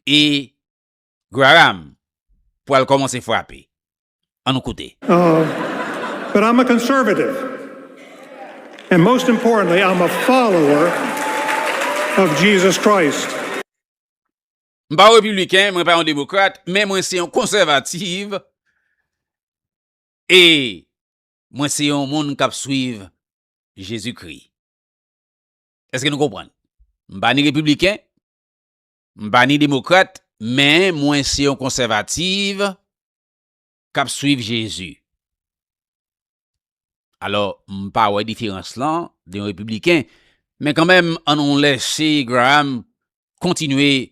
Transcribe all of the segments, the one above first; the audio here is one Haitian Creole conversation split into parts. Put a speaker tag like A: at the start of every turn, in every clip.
A: E Graham pwal komanse frape. An nou koute.
B: But I'm a conservative and most importantly I'm a follower of Jesus Christ.
A: M pa yon repibliken, mwen pa yon demokrat, men mwen se yon konsèvativ e Mwen se yon moun k ap suiv Jezikri. Èske nou konprann? M pa ni repibliken, m pa ni demokrat, men mwen se yon konsèvativ k ap suiv Jezi. Alò, m pa wè diferans lan de yon repibliken. Men kanmenm, annou lèse Graham kontinye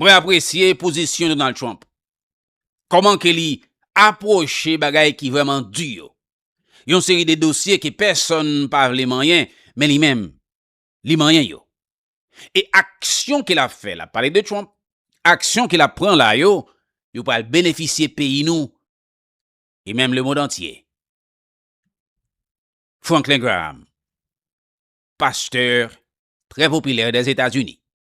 A: Mwen apresye pozisyon Donald Trump. Koman ke li aproche bagay ki vreman di yo. Yon seri de dosye ke pèsòn pa vle manyen, men li menm, li manyen yo. E aksyon ke lap fè, lap pale de Trump, aksyon ke lap pran la yo, yo pral benefisye peyi nou e menm lemond antye. Franklin Graham, pastè trè popilè dèzetazini.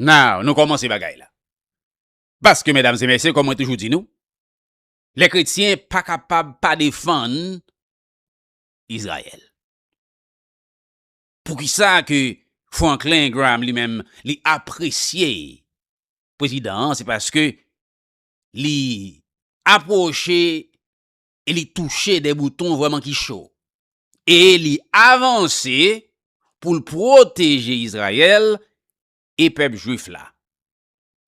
A: Now nou kòmanse bagay la. Paske medam se mesye kòm mwen toujou di nou, lè kretyen pa kapab pa defann Izrayèl. Poukisa ke Franklin Graham li menm li apresye prezidan an se paske li aproche e li touche de bouton vrèman ki cho. E li avanse pou l pwoteje Izrayèl e pèp jwif la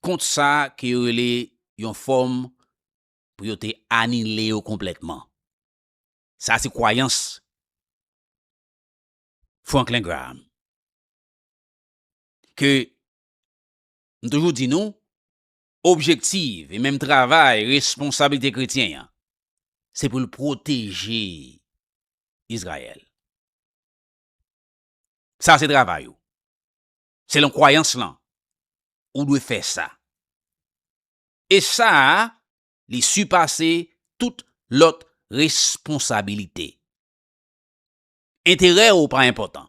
A: kont sa ke yo rele yon fòm pou yo te anile yo konplètman. Sa se kwayans Franklin Graham. Ke m toujou di nou, objektiv e menm travay responsablite kretyen an, se pou l pwoteje Izrayèl. Sa se travay ou. Selon kwayans lan, ou dwe fè sa. E sa a, li sipase tout lòt responsabilite. Enterè ou pa enpòtan.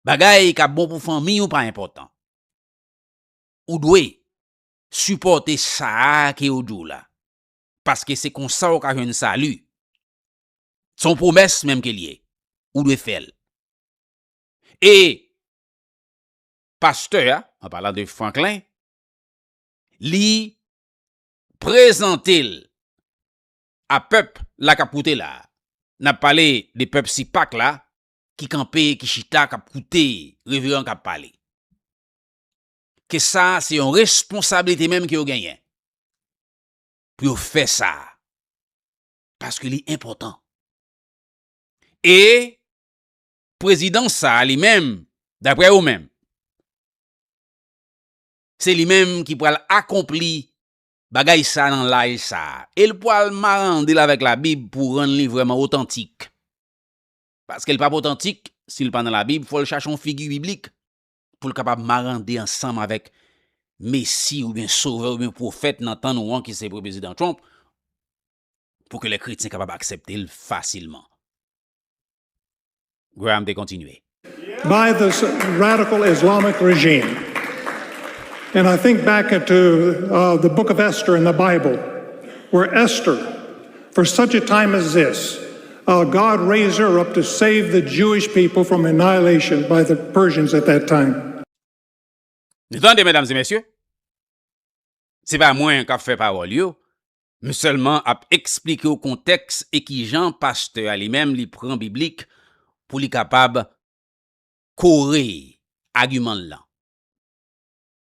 A: Bagay k ap bon pou fanmi ou pa enpòtan. ou dwe sipòte sa a ke yo di w la, paske se konsa ou ka jwenn sali. Se yon pwomès menm ke l ye, ou dwe fè l. E pastè a, an palan de Franklin, li prezante l a pèp la k ap koute la a. N ap pale de pèp Sipak la ki kanpe, ki chita, k ap koute reveran k ap pale. ke sa se yon responsabilite menm ke yo genyen pou yo fè sa paske li enpòtan. E prezidan sa li menm daprè yo menm se li menm ki pral akonpli bagay sa nan laj sa e li pral marande l avèk labib pou rann li vrèman otantik paske li pap otantik si li pa nan labib fò li chache yon figi biblik pou l kapab marande ansanm avèk Mesi oubyen Sovè oubyen Pwofèt nan tan nou an ki se Prezidan Trump, pou ke lè kretyen kapab aksepte l fasilman. Graham te kontinye. By this
B: radical Islamic regime. And I think back into the book of Esther in the Bible, where Esther, For such a time as this, our God raised her up to save the Jewish people from annihilation by the Persians at that time.
A: Nou tande medam e mesye? Se pa mwen kap fè pawòl yo, m sèlman ap eksplike w kontèks e kijan pastè a li menm li pran biblik pou li kapab kore agiman l lan.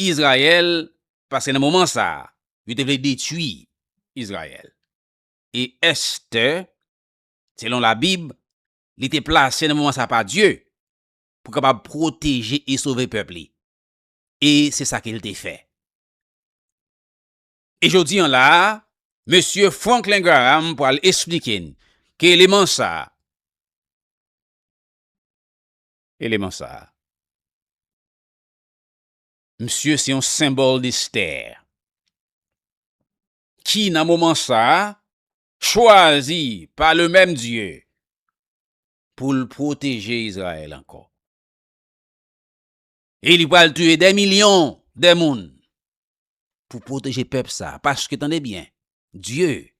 A: Izrayèl, paske nan moman sa a, yo te vle detwi Izrayèl. E Estè, selon Labib, li te plase nan moman sa a pa Dye pou kapab pwoteje e sove pèp li. E se sa ke l te fè. E jodi an la a, Mesye Franklin Graham pral esplike n ke eleman sa a, eleman sa a, Msye se yon senbòl destè ki nan moman sa a chwazi pa le menm Dye pou l pwoteje Izrayèl ankò. E li pral tiye dè milyon dè moun pou pwoteje pèp sa a. Paske tande byen, Dye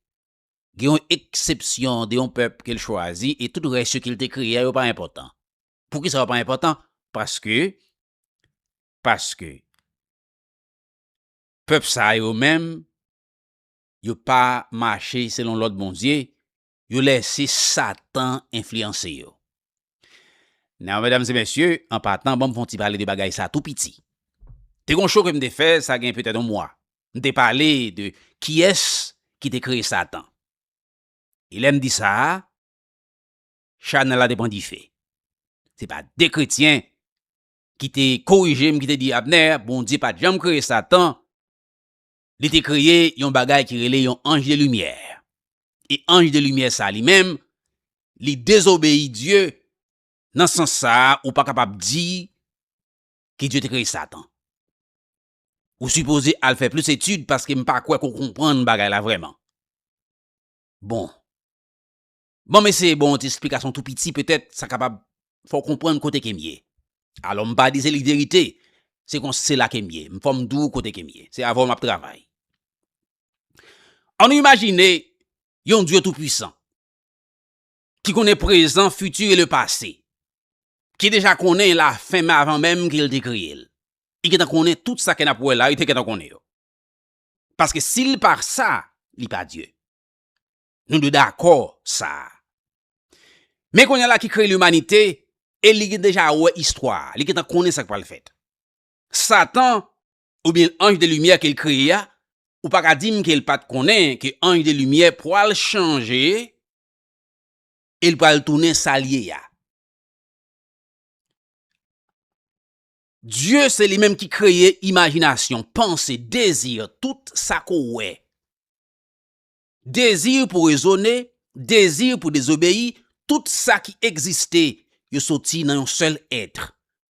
A: gen yon eksepsyon de yon pèp ke l chwazi e tout rès yo ke l te kreye a yo pa enpòtan. Poukisa yo pa enpòtan? Paske paske pèp sa yo menm yo pa mache selon lòd Bondye, yo lèse satan enfliyanse yo. Now medam e mesye, an patan banm fè yon ti pale de bagay sa tou piti. Te gon show kem te fè sa gen petèt yon mwa, m te pale de kiyès ki te kreye satan. E lèm di sa, Chanel la te pran dife. Se pa de kretyen ki te korije m ki te di Abner, Bondye pa t janm kreye Satan, li te kreye yon bagay ki rele yon ange de limyè. E ange de limyè sa li menm, li dezobeyi Dye, nan sans sa a ou pa kapab di ke Dye te kreye Satan. Ou sipoze al fè plis etid paske m pa kwè ke w konprann bagay la vrèman. Bon. Ban m eseye ba w yon ti esplikasyon tou piti petèt sa kapab fè w konprann kote ke m ye. Alò, m pa di se li verite, se konsa se la ke m ye. M fò m di w kote ke m ye. Se avè w m ap travay. An nou imajine yon dye tou pwisan ki konnen prezan, fiti e le pase. Ki deja konnen la fen men avan menm ke l te kreye l. Li gentan konnen tout sa ke n ap wè la, li te gentan konnen yo. Paske si l pa sa, li pa dye. Nou dwe dakò sa. Men kounye la ki kreye limanite e li gen deja wè istwa, li gentan konnen sa k pral fèt. Satan oubyen anj de limyè ke l kreye a, ou pa ka di m ke l pa t konnen ke anj de limyè pral chanje e l pral tounen sa l ye a. Dye se li menm ki kreye imajinasyon, panse, dezi, tout sa ke w wè. Dezi pou rezone, dezi pou dezobeyi, tout sa ki egziste, yo soti nan yon sèl èt,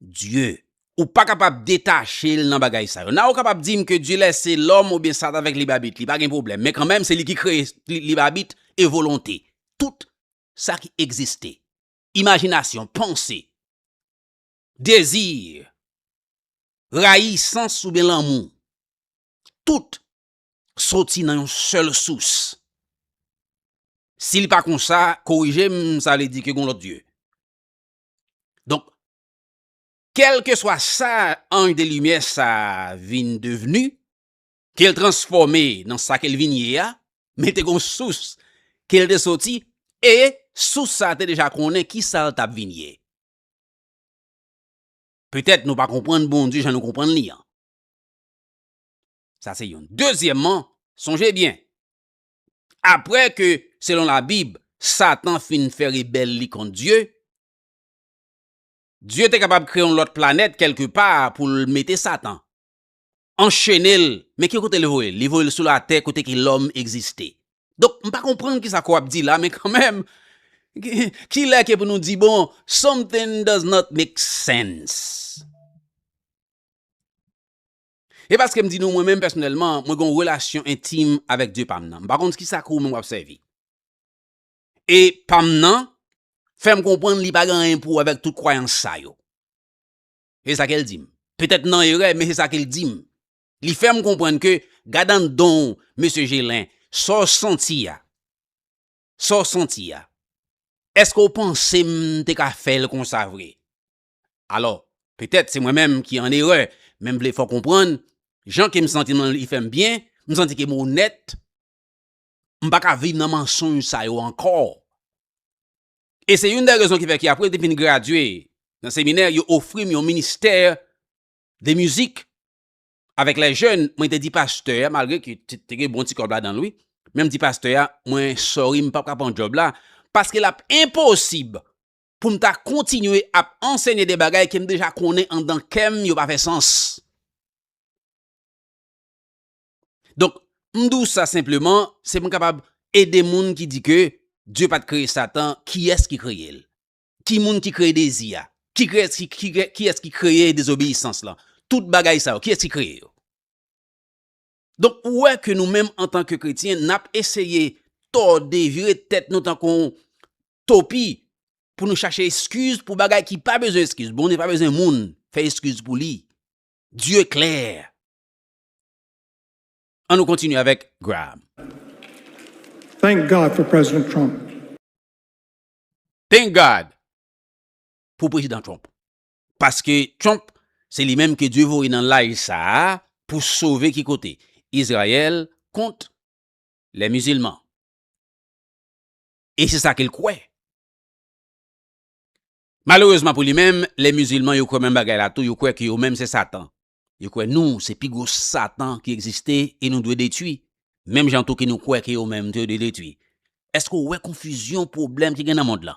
A: Dye. Ou pa kapab detache l nan bagay sa yo. Nan ou kapab di m ke Dye lèse lòm oubyen Satan avèk libabit li, pa gen pwoblèm. Men kanmenm se li ki kreye libabit e volonte. Tout sa ki egziste, imajinasyon, panse, dezi, rayisans oubyen lanmou, tout soti nan yon sèl sous. Si li pa konsa, korije m, sa vle di ke gon lòt dye. Donk, kèlke swa sa anj de limyè sa vin devni, ke l transfòme nan sa ke l vin ye a, men te gon sous ke l te soti, e sous sa te deja konnen ki sa l t ap vin ye. Petèt nou pa konprann Bondye jan nou konprann li an. Sa se youn. Dezyèmman, sonje byen, apre ke, selon Labib, Satan fin fè rebèl li kont Dye, Dye te kapab kreye yon lòt planèt kèlke pa pou l mete Satan, anchene l, men ki kote li voye l? Li voye l sou latè kote ke lòm egziste. Donk, m pa konprann kisa ke w ap di la, men kanmenm, ki lè ke pou nou di, bon, something does not make sense. E paske m di nou mwen menm pèsonèlman, mwen gen yon relasyon entim avèk Dye pa m nan. M pa konn ki sa ke ou menm w ap sèvi. E pa m nan, fè m konprann li pa gen anyen pou wè avèk tout kwayans sa yo. Se sa ke l di m. Petèt m nan erè, men se sa ke l di m. Li fè m konprann ke, gad anndan w, Mesye Gelin, sa w santi a, sa w santi a, èske w panse m te ka fè l konsa vre? Alò, petèt se mwen menm ki an erè, men m vle fè w konprann, jan ke m santi m lan li fè m byen, m santi ke m onèt, m pa ka viv nan mansonj sa yo ankò. E se youn dè rezon ki fè ke apre m te fin gradye nan seminè, yo ofri m yon ministè de mizik avèk lè jèn, mwen te di pastè a, malgre ke te gen bon ti kòb ladan l wi, men m di pastè a, mwen sorry m pap ka pran djòb la, paske l ap enposib pou m ta kontinye ap ansenye de bagay ke m deja konnen andan kè m yo pa fè sans. Donk, m di w sa senpleman, se pou m kapab ede moun ki di ke Dye pa t kreye Satan, kiyès ki kreye l? Ki moun ki kreye dezi a? Kiyès ki kreye dezobeyisans lan? Tout bagay sa yo, kiyès ki kreye yo? Donk ou wè ke nou menm antan ke kretyen nap eseye tòde, vire tèt nou tankou yon topi pou nou chache eskiz pou bagay ki pa bezwen eskiz. Bondye pa bezwen moun fè eskiz pou li. Dieu clair. An nou kontinye avèk Graham.
B: Thank God for President Trump.
A: Thank God pou Prezidan Trump. Paske Trump se li menm ke Dye voye nan laj sa a pou sove ki kote? Izrayèl kont lè mizilman. E se sa ke l kwè. Malerezman pou li menm, lè mizilman yo kwè menm bagay la tou, yo kwè ke yo menm se satan. Yo kwè nou se pi gwo satan ki egziste e nou dwe detwi, menm jan tou ke nou kwè ke yo menm tou yo dwe detwi. Eske w wè konfizyon pwoblèm ki gen nan mond lan?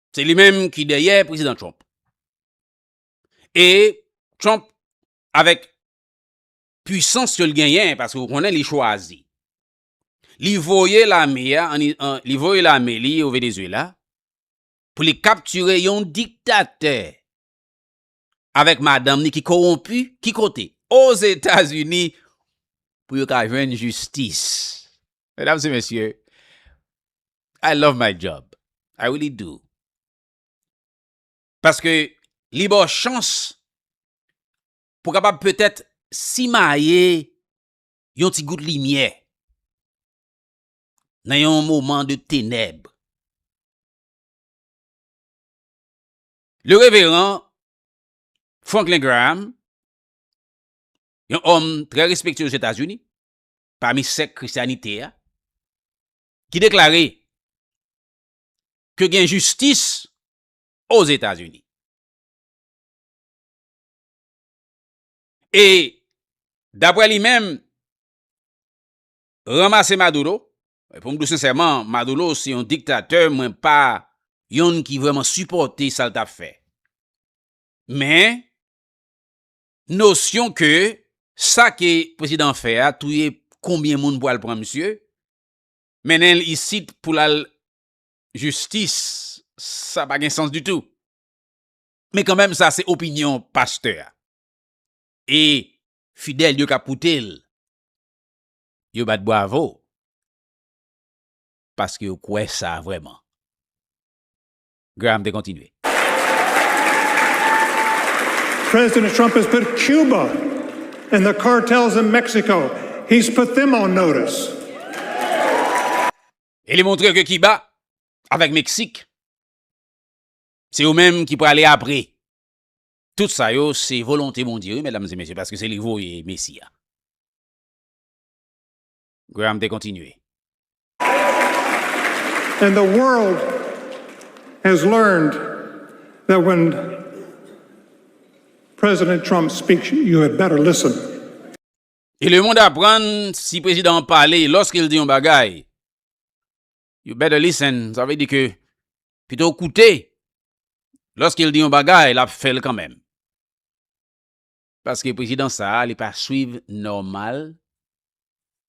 A: Se li menm ki dèyè Prezidan Trump. E Trump avèk pwisans ke l genyen, paske ou konnen li chwazi. Li voye lame a, li voye lame li o Venezuela pou li kaptire yon diktatè avèk madanm ni ki kowonpi ki kote? Ozetazini pou yo ka jwenn jistis. Medam se mesye, I love my job, I really do. Paske li ba w chans pou kapab petèt simaye yon ti gout limyè nan yon moman de tenèb. Le Reveran Franklin Graham, yon òm trè respekte Ozetazini, pami sèk Krisyanite a, ki deklare ke gen jistis Ozetazini. E, dapre li menm, ranmase Maduro, Mwen pou m di w sensèman Maduro se yon diktatè mwen pa yonn ki vrèman sipòte sa l t ap fè. Men nosyon ke sa ke prezidan an fè a touye konbyen moun pou al pran misye, mennen l isit pou l al jistis sa pa gen sans ditou. Men kanmenm sa se opinyon pastè a e fidèl yo k ap koute l. yo bat bwavo paske yo kwè sa vrèman. Graham te kontinye.
B: President Trump has put Cuba and the cartels in Mexico, he's put them on notice.
A: E li montre ke Kiba avèk Meksik se yo menm ki prale apre. Tout sa yo se volonte Bondye wi medam e mesye paske se li voye Mesi a. Graham te kontinye.
B: And the world has learned that when President Trump speaks, you had better listen.
A: E lemond aprann si prezidan an pale, lòske l di yon bagay, you better listen, sa vle di ke pito w koute, lòske l di yon bagay, l ap fè l kanmenm. Paske prezidan sa li pa swiv normal